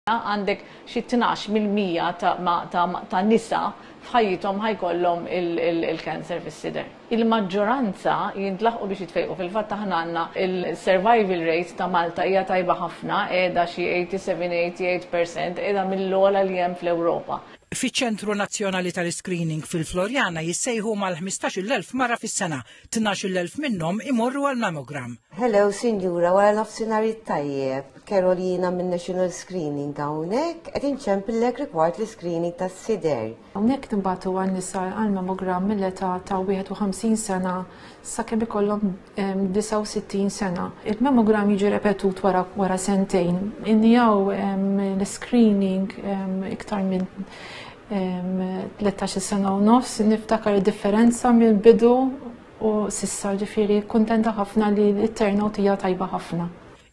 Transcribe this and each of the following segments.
għandek xi tnax mill-mija ta' nisa f'ħajjithom ħa jkollhom il-cancer fis-sider. Il-maġġoranza jintlaħqu biex jitfejqu, fil-fatt aħna għandna il-survival rate ta' Malta hija tajba ħafna, qiegħda xi 87, 88 percent, qiegħda mill-ogħla li hemm fl-Ewropa. Fiċ-Ċentru Nazzjonali tal-Iscreening fil-Floriana jissejħu mal-ħmistax-il elf mara fis-sena Tnax-il elf minnhom imorru għal mammogram. Hello sinjura, wara nofsinhar it-tajjeb. Carol jiena minn National Screening hawnhekk qed inċempillek rigward l-iscreening tas-sider. Hawnhekk nibagħtu għan-nisa għal mammogram mill-età ta' 51 sena sakemm ikollhom 69 sena. Il-mammogram jiġi repetut wara wara sentejn. Innijaw l-iscreening iktar minn 13 sena u nofs, niftakar differenza mill bidu u sissa ġifiri kontenta ħafna li l-turnout hija tajba ħafna.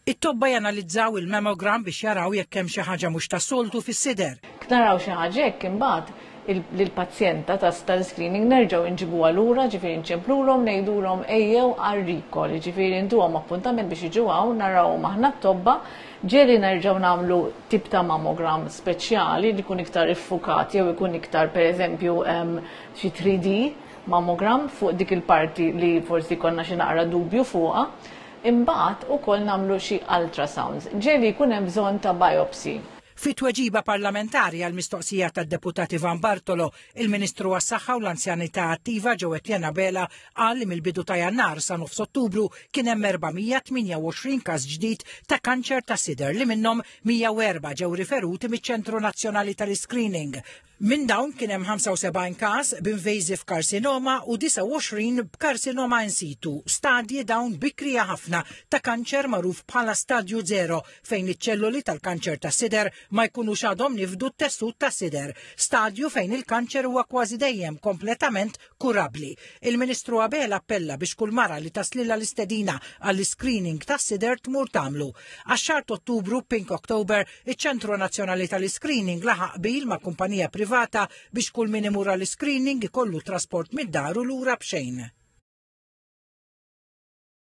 It-tobba janalizzaw il-mammogram biex jaraw jekk hemm xi ħaġa mhux tas-soltu fis-sider. Knaraw xi ħaġa hekk imbagħad lill-pazjenta ta' tal-screening nerġgħu nġibuha lura ġifieri nċemplulhom ngħidulhom ejjew għar-recall, ġifieri ntuhom appuntament biex jiġu hawn narawhom aħna t-tobba Ġieli nerġgħu nagħmlu tip ta' mammogram speċjali li jkun iktar iffukat jew ikun iktar pereżempju xi 3D mammogram fuq dik il-parti li forsi konna xi naqra dubju fuqha. Imbagħad ukoll nagħmlu xi ultrasounds. Ġieli jkun hemm bżonn ta' biopsy. Fi tweġiba parlamentari għal mistoqsija tad-Deputat Ivan Bartolo Il-Ministru għas-Saħħa u l-Anzjanità Attiva Joe Etienne Abela qal li mill-bidu ta' Jannar sa nofs Ottubru kien hemm 428 każ ġdid ta' kanċer tas-sider li minnhom 104 ġew riferuti miċ-Ċentru Nazzjonali tal-Iscreening. Minn dawn kien hemm 75 każ b'invasive carcinoma u 29 b'karsinoma in situ, stadji dawn bikrija ħafna ta' kanċer magħruf bħala stadju zero fejn iċ-ċelloli tal-kanċer tas-sider ma jkunux għadhom nifdu t-tessut tas-sider, stadju fejn il-kanċer huwa kważi dejjem kompletament kurabbli. Il-Ministru Abela appella biex kull mara li taslilha l-istedina għall-iscreening tas-sider tmur tagħmlu. Għax-xahar t'Ottubru, Pink October, iċ-Ċentru Nazzjonali tal-Iscreening laħaq qbil ma' kumpanija privata biex kull min imur għall-iscreening ikollu trasport mid-dar u lura b'xejn.